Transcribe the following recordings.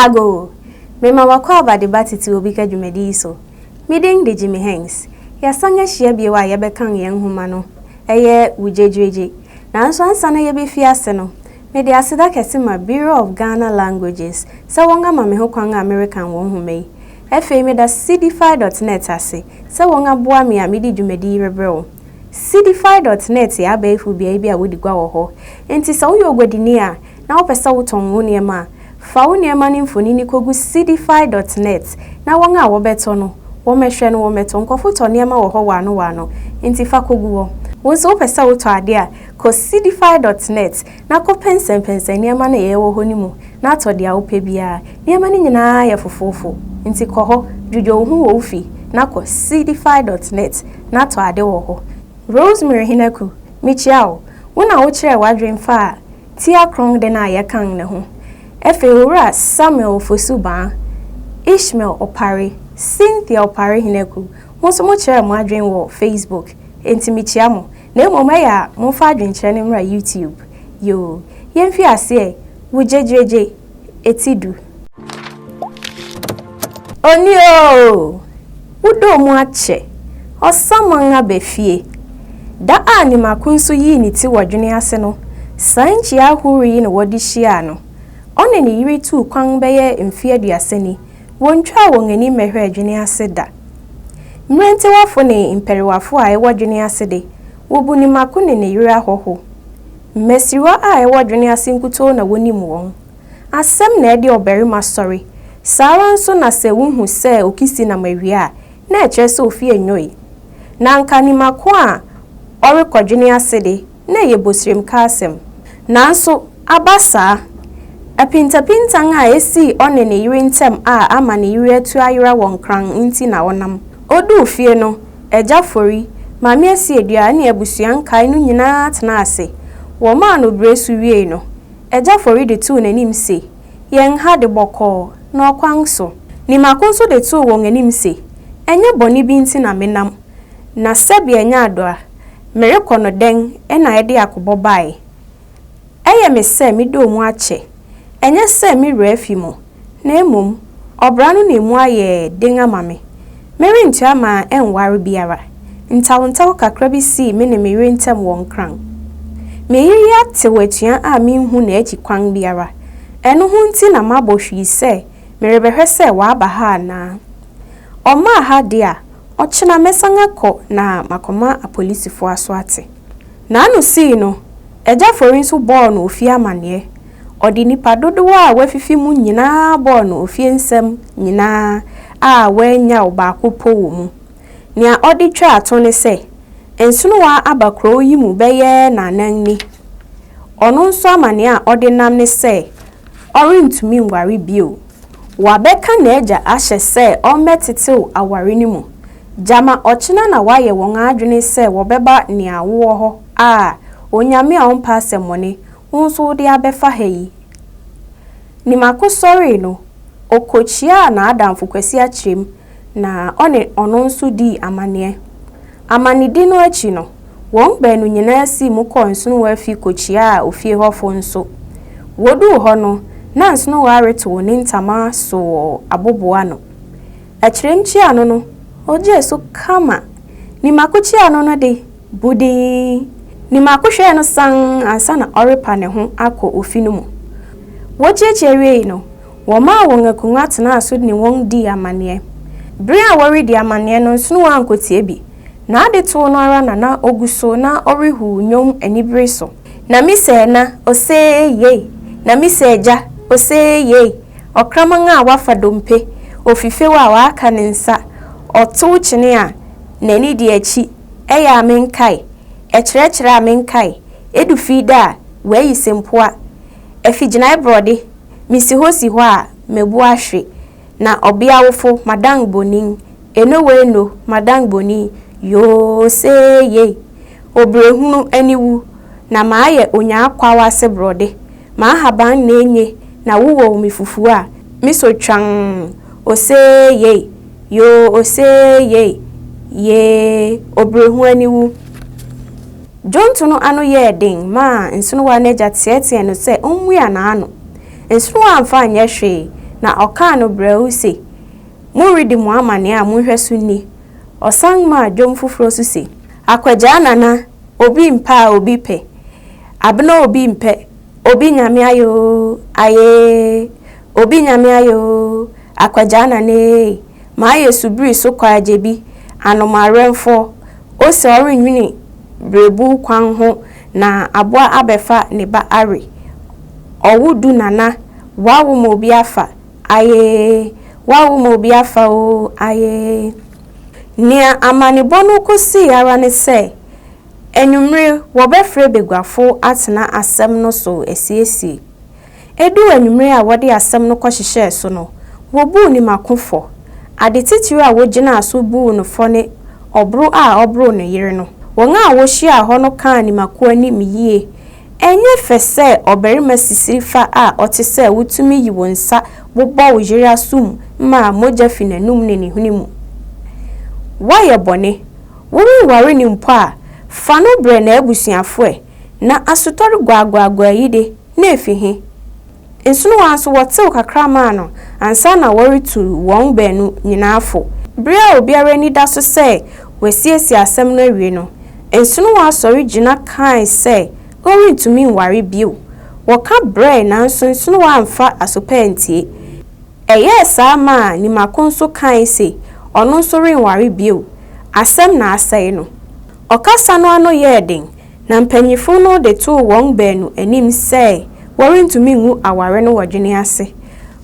Agogo, Mema w'akwaaba de ba tete obi ka dwumadi yi so. Me din de Jimmy Hanks. Yɛasan ahyia bio a yɛbɛkan yɛn nhoma no. Ɛyɛ Wo Gyegyeregye. Nanso ansa na yɛbɛfi ase no, mede aseda kɛse ma Bureau of Ghana Languages sɛ wɔama me ho kwan a merekan wɔn nhoma yi. Afei meda Cdfi dot net ase sɛ wɔaboa me a mede dwumadi yi rebrɛ wo. Seedify dot net yɛ abɛɛfo beae bi a wodi gua wɔ hɔ. Enti sɛ woyɛ oguadini a, na wopɛ sɛ wotɔn wo nneɛma a, fa wo nneɛma no mfonini kogu Seedify dot net, na wɔn a wɔbɛtɔ no, wɔmmɛhwɛ no, wɔmmɛtɔ. Nkurɔfo tɔ nneɛma wɔ hɔ wɔano wɔano, enti fa kogu hɔ. Wo nso wopɛ sɛ wotɔ ade a, kɔ Seedify dot net, na kɔpɛnsɛmpɛnsɛn nneɛma no a ɛyɛ wɔ hɔ no mu na tɔ deɛ wopɛ biara. Nneɛma no nyinaa yɛ fofoofo, enti kɔ hɔ, dwudwo wo ho wɔ wo fie, na kɔ Seedify dot net na tɔ ade wɔ hɔ. Rosemary Henaku, Mekyia wo. Wo na wokyerɛɛ w'adwene faa Tia Kronn den a yɛkan no ho. Afei Owura Samuel Ofosu Baa, Ishmael Opare, Cynthia Opare Henaku, mo nso mokyerɛɛ mo adwene wɔ Facebook, enti mekyia mo. Na mmom ɛyɛ a momfa adwenkyerɛ no mmra YouTube yoo yɛnfi aseɛ wo gyegyregye ɛti du. Oni oo! Wo dɔɔ mu akyɛ, ɔsaman aba fie. Da a Nimako nso yii ne ti wɔ dwene ase no, saa nkyia ahorow yi na wɔde hyiaa no. Ɔne ne yere tuu kwan bɛyɛ mfe aduasa ni Wontwaa wɔn ani mmɛhwɛɛ dwene ase da. Mmerantewafo ne mpɛrewafo a ɛwɔ dwene ase de, wobu ne mako ne ne yere ahɔho. Mmasiriwa a ɛwɔ dwene ase nkutoo na wonim wɔn. Asɛm na ɛde ɔbarima sɔre. Saa ara nso na sɛ wuhu sɛ okisi nam awie a, na ɛkyerɛ sɛ ofi nnwoe. Na anka ne mako a ɔrekɔ dwene ase de, na ɛyɛ bosiremka asɛm. Nanso, aba saa, apintapintan a esii ɔne ne yere ntam a ama ne yere atu ayera wɔ Nkran nti na ɔnam. Oduu fie no, Agya Fori, Maame Asiedua ne abusua nkae no nyinaa tenaa ase. Wɔmaa no bere so wiei no, Agya Fori de too n'anim se, Yɛn ha de bɔkɔɔ, na ɔkwan so. Ne mako nso de too wɔn anim se, Ɛnyɛ bɔne bi nti na menam, na sɛbea nya adɔ a, Merekɔ no dɛn na ɛde akobɔ bae? Ɛyɛ me sɛ me dɔɔ mu akyɛ. Ɛnyɛ sɛ me werɛ afi mo, na mmom ɔbra no na emu ayɛ den ama me. Merentu ama ɛnware biara. Ntawntaww kakra bi sii me ne me yere ntam wɔ Nkran. Me yere yi atew atua a minhu n'akyi kwan biara. Ɛno ho nti na mabɔ hwii sɛ merebɛhwɛ sɛ waba ha anaa. Ɔmmaa ha de a, Ɔkyena mɛsan akɔ na makɔma apolisifo aso ate. N'ano sii no, Agya Fori nso bɔɔ no ofie amanneɛ. Ɔde nnipa dodow a wɔafifi mu nyinaa bɔɔ no ofie nsɛm nyinaa a wannyaw baako mpo wɔ mu. Nea ɔde twaa to ne sɛ, Nsonowa aba kurow yi mu bɛyɛ nnaanan ni. Ɔno nso amanneɛ a ɔde nam ne sɛ ɔrentumi nware bio. Wɔabɛka n'agya ahyɛ sɛ ɔmmɛtetew aware no mu. Gyama ɔkyena na wɔayɛ wɔn adwene sɛ wɔbɛba nea wowɔ hɔ a, Onyame a ɔmpɛ asɛmmɔne, wo nso wode abɛfa ha yi. Nimako sɔree no, okokyiaa n'adamfo Kwasi Akyerem na ɔne ɔno nso dii amanneɛ. Amanedi no akyi no, wɔn baanu nyinaa sii mu kɔɔ Nsonowa fi kokyiaa ofie hɔfo nso. Woduu hɔ no, na Nsonowa retow ne ntama so wɔ abobow ano. Akyirem kyiano no, ogyee so kama. Nimako kyiano no de, bu dinn. Nimako hwɛɛ no sann ansa na ɔrepa ne ho akɔ ofi no mu. Wokyiakyia wiei no, Wɔmaa wɔn akonnwa tenaa so ne wɔn dii amanneɛ. Bere a wɔredi amanneɛ no nsono ankotie bi. N'ade too no ara na na ogu so na ɔrehuw nnwom anibere so. Na me sɛ na, osee yei! Na me sɛ gya, osee yei! Ɔkraman a wafa dompe, ofifew a waka ne nsa, ɔtow kyene a n'ani di akyi, ɛyɛ a menkae, ɛkyerɛkyerɛ a menkae, edu fi da a, wayi sempoa, afi gyinae borɔde, Misi hɔ si hɔ a, mabu ahwe, na ɔbea awofo, madan bonin, enoweeno, madan bonin, yooseeyei, obrɛhunu aniwu, na mayɛ onyaakwaw ase borɔde, m'ahaban nna enye, na wowaw me fufu a, miso twann, oseeyei, yooseeyei, yee, obrɛhunu aniwu. Dwonto no ano yɛɛ den maa nsonowa no agya teɛteɛɛ no sɛ ommua n'ano. Nsonowa amfa anyɛ hwee, na ɔkaa no brɛoo se, Moredi mo amanneɛ a mo nhwɛso nni. Ɔsan maa dwom foforo so se, Akwagyaa nana, obi mpɛ a obi pɛ, abena obi mpɛ, obi Nyame ayɛ oo, ayee, obi Nyame ayɛ oo, akwagyaa nana ee, mayɛ subiri so kwaagyebi, anomawerɛmfoɔ, Ose ɔrenwene berebuw kwan ho na aboa abɛfa ne ba awe. Ɔwo du nana woawo ma obi afa ayee woawo ma obi afa oo ayee. Nea amanebɔ no kosii ara ne sɛ anwummere wɔbɛfrɛ baguafo atena asɛm no so asiesie. Eduu anwummere a wɔde asɛm no kɔhyehyɛɛ so no, wobuu Nimako fɔ. Ade titiriw a wogyinaa so buu no fɔ ne ɔboro a ɔboroo ne yere no. Wɔn a wohyiaa hɔ no kaa Nimako anim yiye. Ɛnyɛ fɛ sɛ ɔbarima sisiri fa a ɔte sɛ wo tumi yi wo nsa bobɔ wo yere aso mu ma mogya fi n'anom ne ne hwene mu. Woayɛ bɔne. Worenware no mpo a, fa no brɛ n'abusuafo ɛ. Ná asotɔre guaguaguaa yi de, na efi he? Nsono ara nso wɔtew kakra maa no ansa na wɔretu wɔn baanu nyinaa fo. Bere a obiara ani da so sɛ wɔasiesie asɛm no awie no, nsono ara sɔre gyina kae sɛ ɔrentumi nware bio. Wɔka brɛe nanso nsono ara amfa aso pa antie. Ɛyɛɛ saa maa Nimako nso kae se ɔno nso renware bio. Asɛm na asɛe no. Ɔkasa no ano yɛɛ den Na mpanyimfo no de too wɔn baanu anim sɛ wɔrentumi ngu aware no wɔ dwene ase.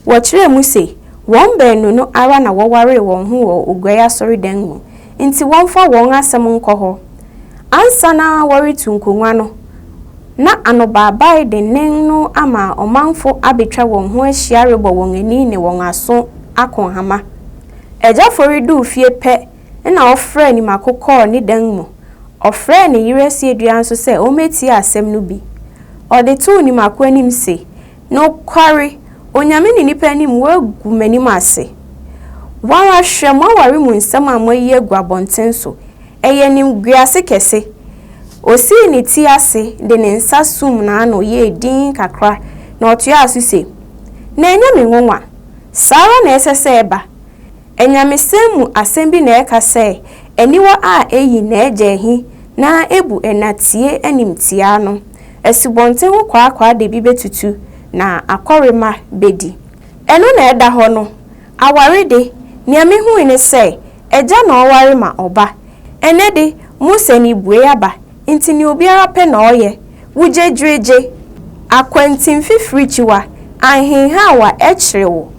Wɔkyerɛɛ mu se, wɔn baanu no ara na wɔwaree wɔn ho wɔ Oguai Asɔredan mu, nti wɔmfa wɔn asɛm nkɔ hɔ. Ansa na wɔretu nkongua no, na anobaabae dennen no ama ɔmanfo abetwa wɔn ho ahyia rebɔ wɔn ani ne wɔn aso ako nhama. Agya Fori duu fie pɛ Nna ɔfrɛɛ ne mako kɔr ne dan mu. Ɔfrɛɛ ne yer Asiedua nso sɛ ombetsie asɛm no bi. Ɔdze too ne mako enyim se, Nokwar, Onyame ne nyimpa enyim woegu m'enyim ase. Woara hwɛ, m'awar mu nsɛm a moeyi egu abɔntsen so, ɛyɛ nyimguase kɛse. Osii ne tsir ase dze ne nsa suum n'ano yɛɛ dinn kakra na ɔtoaa so se, Na enye me nwonwa. Saa ara na ɛsɛ sɛ eba. Anyamesɛm mu asɛm bi na ɛka sɛ, Aniwa a eyi n'agya ahi na ebu ɛna tie animtiaa no, asubɔnten ho kwaakwaade bi betutu na akɔremma bedi. Ɛno na ɛda hɔ no. Aware de, nea mihui ne sɛ, agya na ɔware ma ɔba. Ɛnnɛ de, Mose anibuei aba, enti nea obiara pɛ na ɔyɛ. wugyegyiregye, akwantin fifiri kyiwa anhenhaw a ɛkyere wo.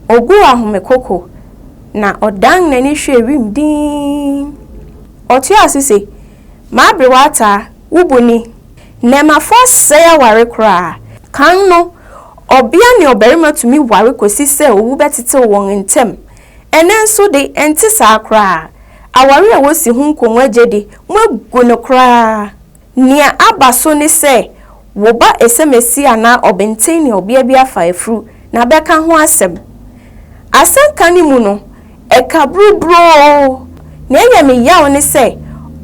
Oguu ahome koko, na ɔdan n'ani hwɛɛ wim dinn. Ɔtoaa so se, M'abere w'ataa, wo bo ni. Nnɛɛmmafo asɛe aware koraa. Kan no, ɔbea ne ɔbarima tumi ware kosi sɛ owu bɛtetew wɔn ntam. Ɛnnɛ nso de, ɛnte saa koraa. Aware a wosi ho nkongua gye de, moagu no koraa. Nea aba so ne sɛ wo ba esemesi anaa ɔbenten ne ɔbea bi afa afuru na abɛka ho asɛm. Asɛnka no mu no, ɛka buruburoo. Nea ɛyɛ me yaw ne sɛ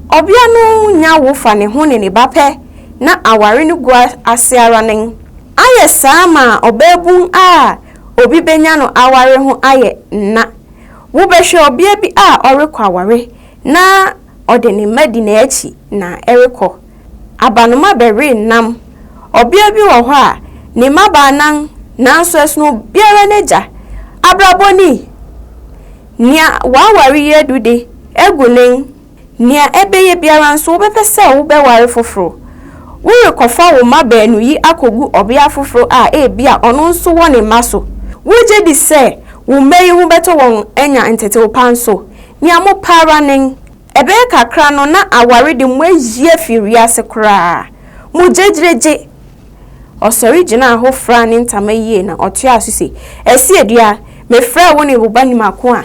ɔbea no nya wo fa ne ho ne ne ba pɛ na aware no gu ase ara nen. Ayɛ saa ma ɔbaabun a obi benya no aware ho ayɛ nã. Wobɛhwɛ ɔbea bi a ɔrekɔ aware na Ɔde ne mma di n'akyi na ɛrekɔ. Abanoma bɛwe nam. Ɔbea bi wɔ hɔ a, ne mma baanan, nanso ɛsono obiara n'agya. Abrabɔ ni! Nea waware yi adu de, agu nen. Nea ɛbɛyɛ biara nso, wobɛpɛ sɛ wobɛware foforo. Worekɔfa wo mma baanu yi akogu ɔbea foforo a ebia ɔno nso wɔ ne mma so. Wugye di sɛ wo mma yi ho bɛtɔ wɔn anya ntetewpa nso? Nea mopɛ ara nen, ɛbɛyɛ kakra no na aware de mo ayi afi wiase koraa. Mo gyegyeregye! Ɔsɔre gyinaa hɔ furaa ne ntama yie na ɔtoaa so se, Ɛseɛ dua, mefrɛɛ wo ne wo ba nim ako a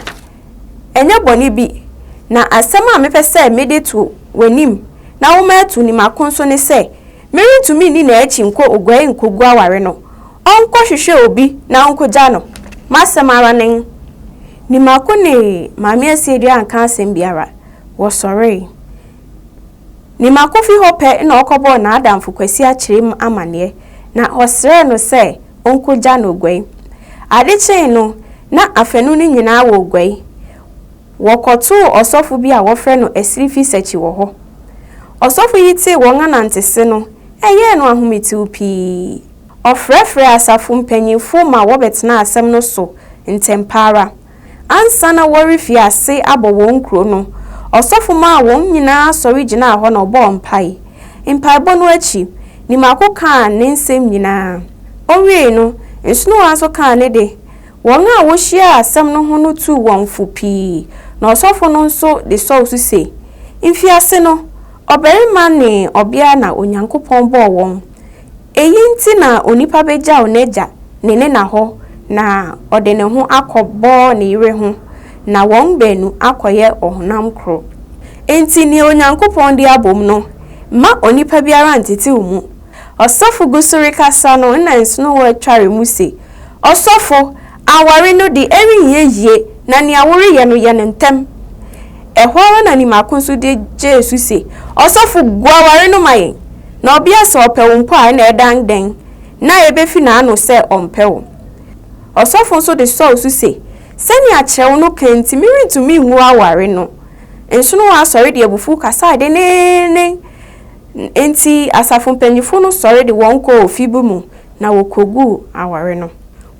ɛnyɛ bɔne bi, na asɛm a mepɛ sɛ mede to w'anim na woma atu nim ako nso ne sɛ, Merentumi nni n'akyi nkɔ oguan nkogu aware no, ɔnkɔhwehwɛ obi na onkogya no. M'asɛm ara nen! Ni mako ne Maame Asiedu anka asɛm biara. Wɔsɔree. Ni mako fi hɔ pɛ na ɔkɔbɔɔ n'adamfo Kwasi Akyerem amanneɛ, na ɔsrɛɛ no sɛ onkogya no oguan. Ade kyee no, na afanu no nyinaa wɔ oguan. Wɔkɔtoo ɔsɔfo bi a wɔfrɛ no Asirifi Sakyi wɔ hɔ. Ɔsɔfo yi tee wɔn anantese no, ɛyɛɛ no ahometew pii. Ɔfrɛfrɛɛ asafo mpanyimfo ma wɔbɛtenaa asɛm no so ntɛmpa ara. Ansa na wɔrefi ase abɔ wɔn kurow no, ɔsɔfo maa wɔn nyinaa sɔre gyinaa hɔ na ɔbɔɔ mpae. Mpaebɔ no akyi, Nimako kaa ne nsɛm nyinaa. Owiei no, Nsonowa nso kaa ne de. Wɔn a wohyiaa asɛm no ho no tuu wɔn fo pii, na ɔsɔfo no nso de sɔw so se, Mfiase no, ɔbarima ne ɔbea na Onyankopɔn bɔɔ wɔn. Eyi nti na onipa begyaw n'agya ne ne na hɔ na ɔde ne ho akɔbɔ ne yere ho, na wɔn baanu akɔyɛ ɔhonam koro. Enti nea Onyankopɔn de abom no, mma onipa biara ntetew mu. Ɔsɔfo gu so rekasa no nna nsonowa tware mu se, Ɔsɔfo, aware no de, ɛrenyɛ yie, na nea woreyɛ no, yɛ no ntɛm. Ɛhɔ ara na nimako nso de gyee so se, Ɔsɔfo, gu aware no ma yɛn. Na ɔbea sɛ ɔpɛ wo mpo a, ɛnna ɛdan dɛn na ebefi n'ano sɛ ɔmpɛ wo? Ɔsɔfo nso de sɔw so se, Sɛnea kyerɛw no ka nti, merentumi ngu aware no. Nsonowa sɔre de abufuw kasae denneennen. Enti asafo mpanyimfo no sɔre de wɔn kɔɔ ofi bi mu na wokoguu aware no.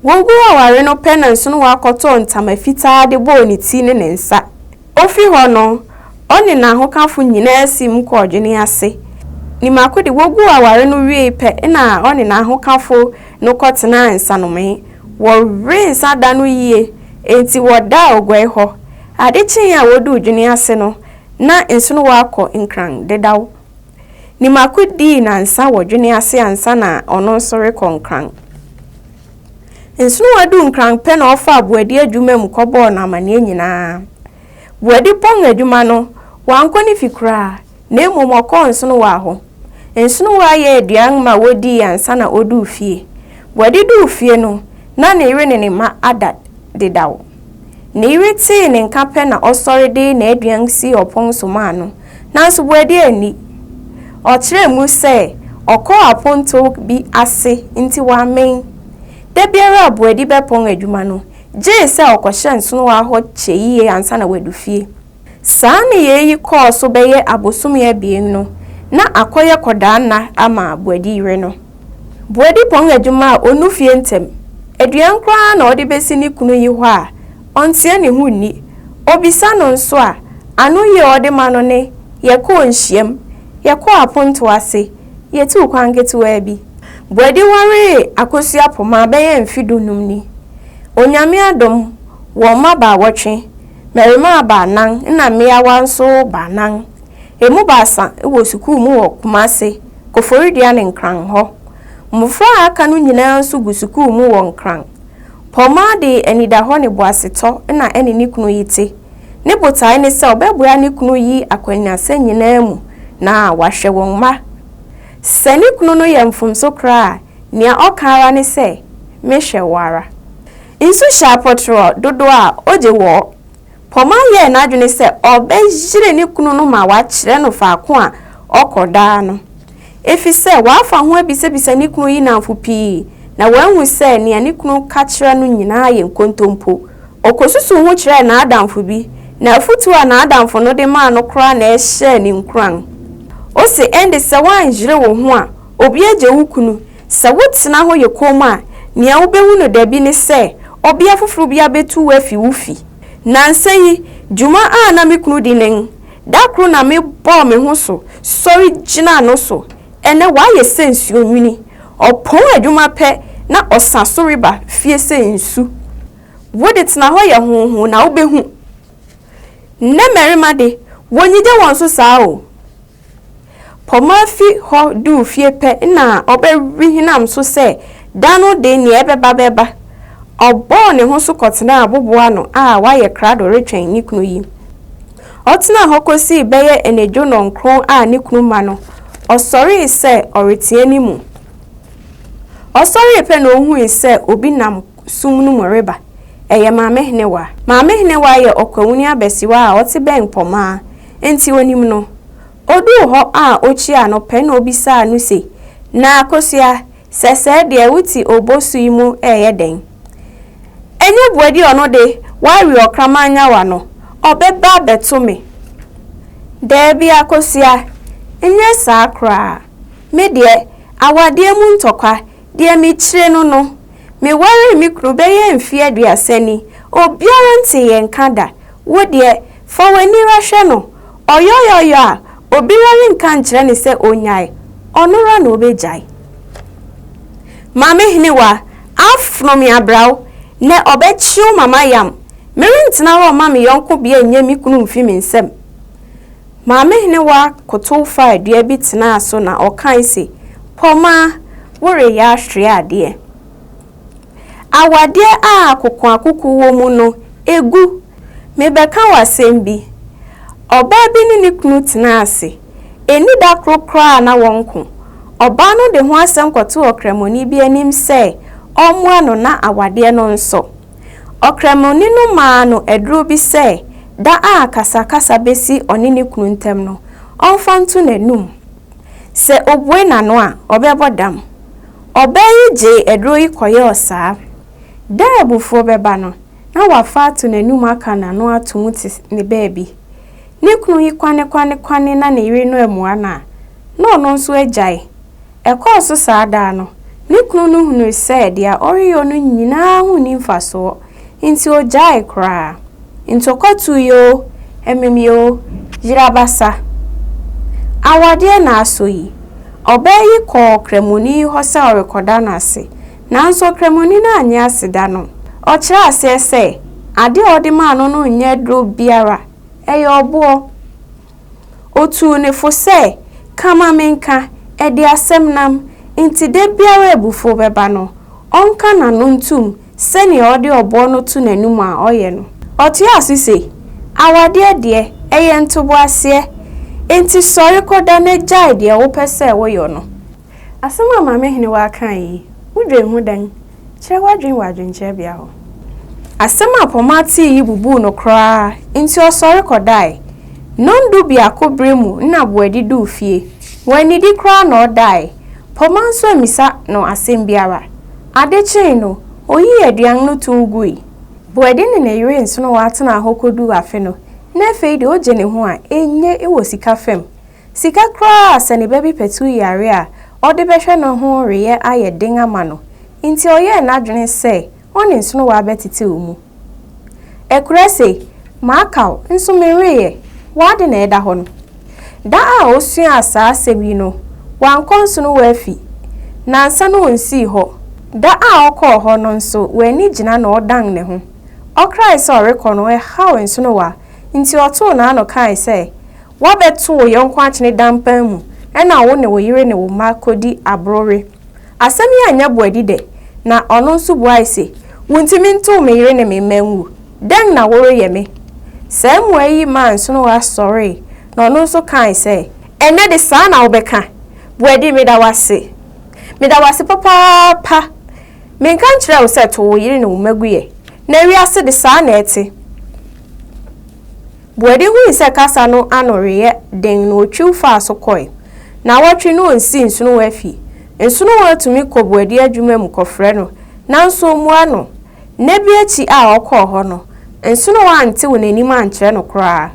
Woguu aware no pɛ na Nsonowa kɔtɔɔ ntama fitaa de bɔɔ ne ti ne ne nsa. Ofi hɔ no, ɔne n'ahokafo nyinaa siim kɔɔ adwene ase. Ne mako de, woguu aware no wiei pɛ na ɔne n'ahokafo no kɔtenaa nsanomee. Wɔwee nsa da no yiye, enti wɔdaa oguai hɔ. Ade kyee a woduu dwene ase no, na nsono wɔ akɔ nkran dedaw. Nimako dii nnansa wɔ dwene ase ansa na ɔno nso rekɔ nkran. Nsonowa duu nkran pɛ na ɔfaa Boadi adwuma mu kɔbɔɔ no amanneɛ nyinaa. Boadi pɔn adwuma no, wankɔ ne fi koraa, na mmom ɔkɔɔ Nsonowa hɔ. Nsonowa yɛɛ aduan ma wodii ansa na oduu fie. Boadi duu fie no, na ne yere ne ne mma ada dedaw. Ne yere tee ne nka pɛ na ɔsɔre de n'aduan sii ɔpon so maa no, nanso Boadi anni. Ɔkyerɛɛ mu sɛ ɔkɔɔ apontow bi ase nti wammen. Da biara a Boadi bɛpɔn adwuma no, gye sɛ ɔkɔhyɛ nsonoa hɔ kyɛ yiye ansa na wadu fie. Saa nneyɛe yi kɔɔ so bɛyɛ abosome abien no, na akɔyɛ kɔdaa nna ama Boadi yere no. Boadi pɔn adwuma a onnu fie ntɛm. Aduan koraa na ɔde besi ne kunu yi hɔ a, ɔnteɛ ne ho nni. Obisa no nso a, anoyi a ɔde ma no ne, Yɛkɔɔ nhyiam, yɛkɔɔ apontow ase, yetuu kwan ketewaa bi. Boadi waree Akosua Pomah bɛyɛ mfe dunnum ni. Onyame adom, wɔn mma baawɔtwe. Mmarimaa baanan na mmeawa nso baanan. Emu baasa wɔ sukuu mu wɔ Kumase, Koforidua ne Nkran hɔ. Mmofra a aka no nyinaa nso gu sukuu mu wɔ Nkran. Pɔmaa de anidahɔ ne boasetɔ na ɛne ne kunu yi te. Ne botae ne sɛ ɔbɛboa ne kunu yi akwannyinasɛm nyinaa mu na wahwɛ wɔn mma. Sɛ ne kunu no yɛ mfomso koraa a, nea ɔka ara ne sɛ, Mehwɛ wo ara. Nsu hyɛ apɔtorɔ dodoɔ a ɔgye wɔ. Poma yɛɛ n'adwene sɛ ɔbɛyere ne kunu no ma wakyerɛ no faako a ɔkɔ daa no. Efisɛ wafa ho abisabisa ne kunu yi nnamfo pii na wahu sɛ nea ne kunu ka kyerɛ no nyinaa yɛ nkontompo. Ɔkɔsusuw ho kyerɛɛ n'adamfo bi, na afotu a n'adamfo no de maa no koraa na ɛhyɛɛ no nkuran. Ose, Ɛnde sɛ woanyere wo ho a, obi agye wo kunu. Sɛ wotena hɔ yɛ komm a, nea wubehu no dabi ne sɛ ɔbea foforo bi abetu wo afi wo fi. Nnansa yi, dwuma a na me kunu di nen. Da koro na mebɔɔ me ho so sɔre gyinaa no so. Ɛnnɛ wayɛ sɛ nsuo nwini. Ɔpɔn adwuma pɛ na ɔsa so reba fie sɛ nsu. Wo de, tena hɔ yɛ hoohoo na wubehu. Nnɛ mmarima de, wonnyigye wɔn so saa o. Poma fi hɔ duu fie pɛ na ɔbɛwe hinam so sɛ da no de nea ɛbɛba bɛba. Ɔbɔɔ ne ho so kɔtenaa abobow ano a wayɛ krado retwɛn ne kunu yi. Ɔtenaa hɔ kosii bɛyɛ anadwo nnɔnkron a ne kunu ma no, ɔsɔree sɛ ɔreteɛ ne mu. Ɔsɔree pɛ na ohui sɛ obi nam sum no mu reba. Ɛyɛ Maame Henewa. Maame Henewa yɛ ɔkwawuni abasiwa a ɔte bɛn Mpɔmaa, enti onim no. Oduu hɔ a okyiaa no pɛ na obisaa no se, Na Akosua, sɛsɛɛ deɛ wote obosu yi mu reyɛ dɛn? Ɛnyɛ Boadi ɔno de, wawe ɔkraman nyawa no, ɔbɛba abɛto me? Daabi Akosua, nyɛ saa koraa. Me deɛ, awadeɛ mu ntɔkwa, deɛ mekyire no no, Mewaree me kunu bɛyɛ mfe aduasa ni, obiara nntse yɛn nka da. Wo deɛ, fa w'ani ra hwɛ no. Ɔyɔyɔyɔ a, obira rennka nnkyerɛ no sɛ onnyae, ɔno ra na obegyae. Maame Henewa, afono me abraw, nɛ ɔbɛkyew ma mayam. Merenntena hɔ mma me yɔnko bea nnyɛ me kunu mmfi me nsam. Maame Henewa kotow faa dua bi tenaa so na ɔkae se, Pɔma, woreyɛ ahwere adeɛ. Awadeɛ a akokoakoko wɔ mu no, egu. Mebɛka wo asɛm bi. Ɔbaa bi ne ne kunu tenaa ase. Enni da koro koraa a na wɔnko. Ɔbaa no de ho asɛm kɔtoo ɔkramoni bi anim sɛ ɔmmoa no na awadeɛ no nsɔ. Ɔkramoni no maa no aduru bi sɛ da a akasakasa besi ɔne ne kunu ntam no, ɔmfa nto n'anom. Sɛ obue n'ano a, ɔbɛbɔ dam. Ɔbaa yi gyee aduru yi kɔyɛɛ saa. Da a abufuo bɛba no, na wafa ato n'anom aka n'ano atom te ne baabi. Ne kunu yi kwanekwanekwane na ne yere no ammua no a, na ɔno nso agyae. Ɛkɔɔ so saa daa no, ne kunu no hunui sɛ deɛ ɔreyɔ no nyinaa ho nni mfasoɔ, enti ɔgyaee koraa. Ntɔkwa tuiɛ oo, ɛmemeɛ oo, yere abasa, awadeɛ na asɔ yi. Ɔbaa yi kɔɔ Ɔkramoni yi hɔ sɛ ɔrekɔda no ase, nanso Ɔkramoni no annye aseda no. Ɔkyerɛɛ aseɛ sɛ, adeɛ a ɔde maa no no nyɛ aduro biara, ɛyɛ ɔboɔ. Otuu ne fo sɛ, Ka ma menka, ɛde asɛm nam, nti da biara a abufuo bɛba no, ɔnka n'ano ntom sɛdeɛ ɔde ɔboɔ no to n'anom a ɔyɛ no. Ɔtoaa so se, Awadeɛ deɛ, ɛyɛ ntoboaseɛ, enti sɔre kɔda na gyae deɛ wopɛ sɛ woyɔ no. Asɛm a Maame Henewaa kae yi, wudwen ho dɛn? Kyerɛ w'adwene wɔ adwenkyerɛbea hɔ. Asɛm a Poma tee yi bubuu no koraa nti ɔsɔre kɔdae. Nnɔndu biako bere mu na Boadi duu fie. Wannidi koraa na ɔdae. Poma nso ammisa no asɛm biara. Ade kyee no, oyii aduan no tow gui. Boadi ne ne yere nsono wɔatenaa hɔ koduu afe no, na afei de ogye ne ho a enye wɔ sika fam. Sika koraa a sɛ ne ba bi patuw yare a, ɔde bɛhwɛ no ho reyɛ ayɛ den ama no nti ɔyɛɛ n'adwene sɛ ɔne nsonowa bɛtetew mu. Ɛkorɛ se, Maka wo, nso menweeɛ, w'ade na ɛda hɔ no. Da a ɔsuaa saa asɛm yi no, wankɔ nsonowa fi. Nnansa no ɔnsii hɔ. Da a ɔkɔɔ hɔ no nso wanni gyina na ɔdan ne ho. Ɔkrae sɛ ɔrekɔ no ɛhaw nsonowa nti ɔtoo n'ano kae sɛ, Woabɛto wo yɔnko akyene dampan mu na wo ne wo yere ne wo mma kodi aboro we. Asɛm yi anyɛ Boadi dɛ, na ɔno nso buae se, Wuntumi ntow me yere ne me mma ngu. Dɛn na woreyɛ me? Saa mmuae yi maa Nsonowa sɔree, na ɔno nso kae sɛ, Ɛnnɛ de saa na wobɛka? Boadi, meda wo ase. Meda wo ase papaapa. Menka nkyerɛɛ wo sɛ tow wo yere ne wo mma gu ɛ. Na wiase de saa na ɛte. Boadi hui sɛ kasa no ano reyɛ den na otwiw faa so kɔe. Naawɔtwe na onsi Nsonowa fi. Nsonowa tumi kɔ Boadi adwuma mu kɔfrɛ no, nanso ommua no. Nna bi akyi a ɔkɔɔ hɔ no, Nsonowa antew n'anim ankyerɛ no koraa.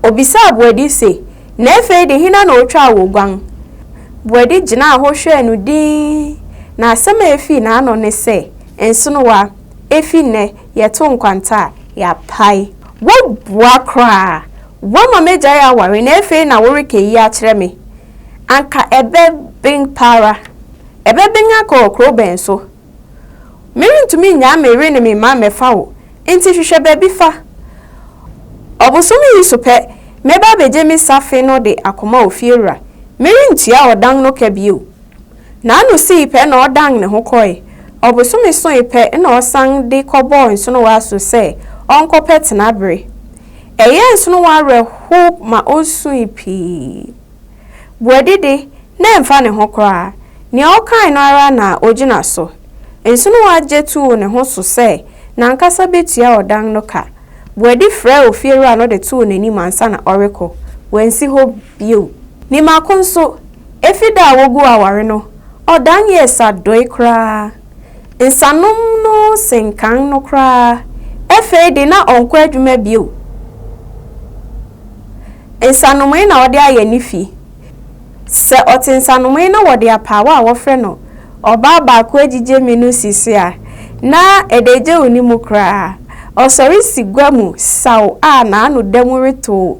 Obisaa Boadi se, Na afei de hena na otwaa wo guan? Boadi gyinaa hɔ hwɛɛ no dinn, na asɛm a efii n'ano ne sɛ, Nsonowa, efi nnɛ, yɛto nkwanta a, yɛapae. Woabua koraa! Woama m'agyae aware na afei na woreka eyi akyerɛ me? Anka ɛbɛben pa ara. Ɛbɛben akɔ kurow bɛn so? Merentumi nnyaa me yere ne me mma mmɛfa wo, enti hwehwɛ baabi fa. Ɔbosome yi so pɛ, mɛba abegye me safe no de akɔma ofiewura. Merentua ɔdan no ka bio. N'ano sii pɛ na ɔdan ne ho kɔe. Ɔbosome soe pɛ na ɔsan de kɔbɔɔ Nsonowaa so sɛ ɔnkɔpɛ tenabere. Ɛyɛɛ Nsonowaa awerɛhow ma osui pii. Boadi de, na ɛmfa ne ho koraa. Nea ɔkae no ara na ogyina so. Nsonowaa gye too ne ho so sɛ n'ankasa betua ɔdan no ka. Boadi frɛɛ ofiewura no de too n'anim ansa na ɔrekɔ. Wansi hɔ bio. Ne mako nso, Efi da a woguu aware no, ɔdan yɛɛ saddoe koraa. Nsanom no sen kan no koraa. Afei de, na ɔnkɔ adwuma bio. Nsanomee na ɔde ayɛ ne fi. Sɛ ɔte nsanomee na wɔde apaawa a wɔfrɛ no ɔbaa baako agyigye me no si so a, na adagyaw nni mu koraa. Ɔsɔre si gua mu saw a n'ano da mu retow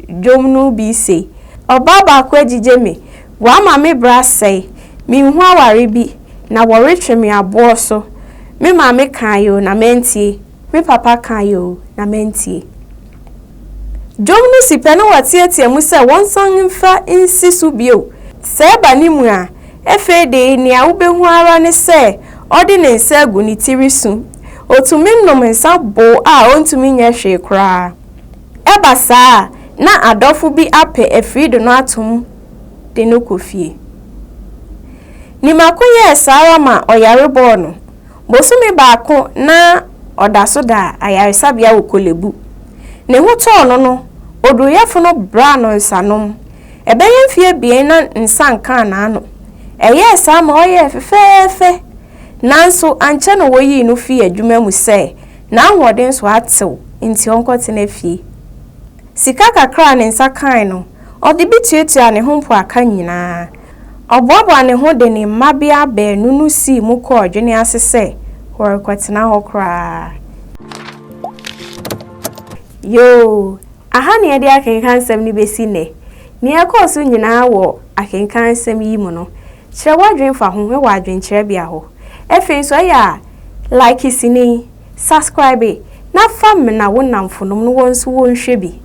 dwom no bi se, Ɔbaa baako agyigye me, Wama me bra sɛe, Menhu aware bi, Na wɔretwe me aboɔ so. Me maame kaeɛ o, na mantie, Me papa kaeɛ o, na mantie. Dwom no si pɛ na wɔteatea mu sɛ wɔnsan mfa nsi so bio. Sɛ ɛba ne mu a, afei de nea wobɛhu ara ne sɛ ɔde ne nsa agu ne ti resu. Ɔtumi nom nsa bow a ɔntumi nyɛ hwee koraa. Ɛba saa a, na adɔfo bi apɛ afiri de no ato mu de no kɔ fie. Nimako yɛɛ saa ara ma ɔyare bɔɔ no. Bosome baako na ɔda so da ayaresabea wɔ Kolebu. Ne ho tɔɔ no no, oduruyɛfo no braa no nsanom. Ɛbɛyɛ mfe abien na nsa nkaa n'ano. Ɛyɛɛ saa ma ɔyɛɛ fɛfɛɛfɛ. Nanso ankyɛ na woyii no fii adwuma mu sɛ N'ahoɔden so atew nti ɔnkɔtena fie. Sika kakra a ne nsa kae no, ɔde bi tuatuaa ne ho mpoaka nyinaa. Ɔboaboaa ne ho de ne mmabea baanu no sii mu kɔɔ adwene ase sɛ wɔrekɔtena hɔ koraa. Yoo, aha na yɛde akenkan nsɛm no besi nnɛ. Nea ɛkɔɔ so nyinaa wɔ akenkan nsɛm yi mu no. Kyerɛ w'adwene fa ho wɔ adwenkyerɛbea hɔ. Afei nso, ɛyɛ a like sini, subscribe, na fa mena wo nnamfonom na wɔn nso wɔnhwɛ bi.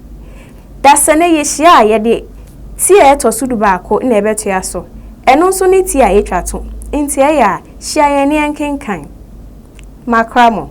Dasani yɛhyia a, yɛde ti a ɛtɔ so dubaako na ɛbɛtoa so. Ɛno nso ne ti a yɛtwa to. Enti ɛyɛ a, hyia yɛn na yɛnkenkan. Makra mo.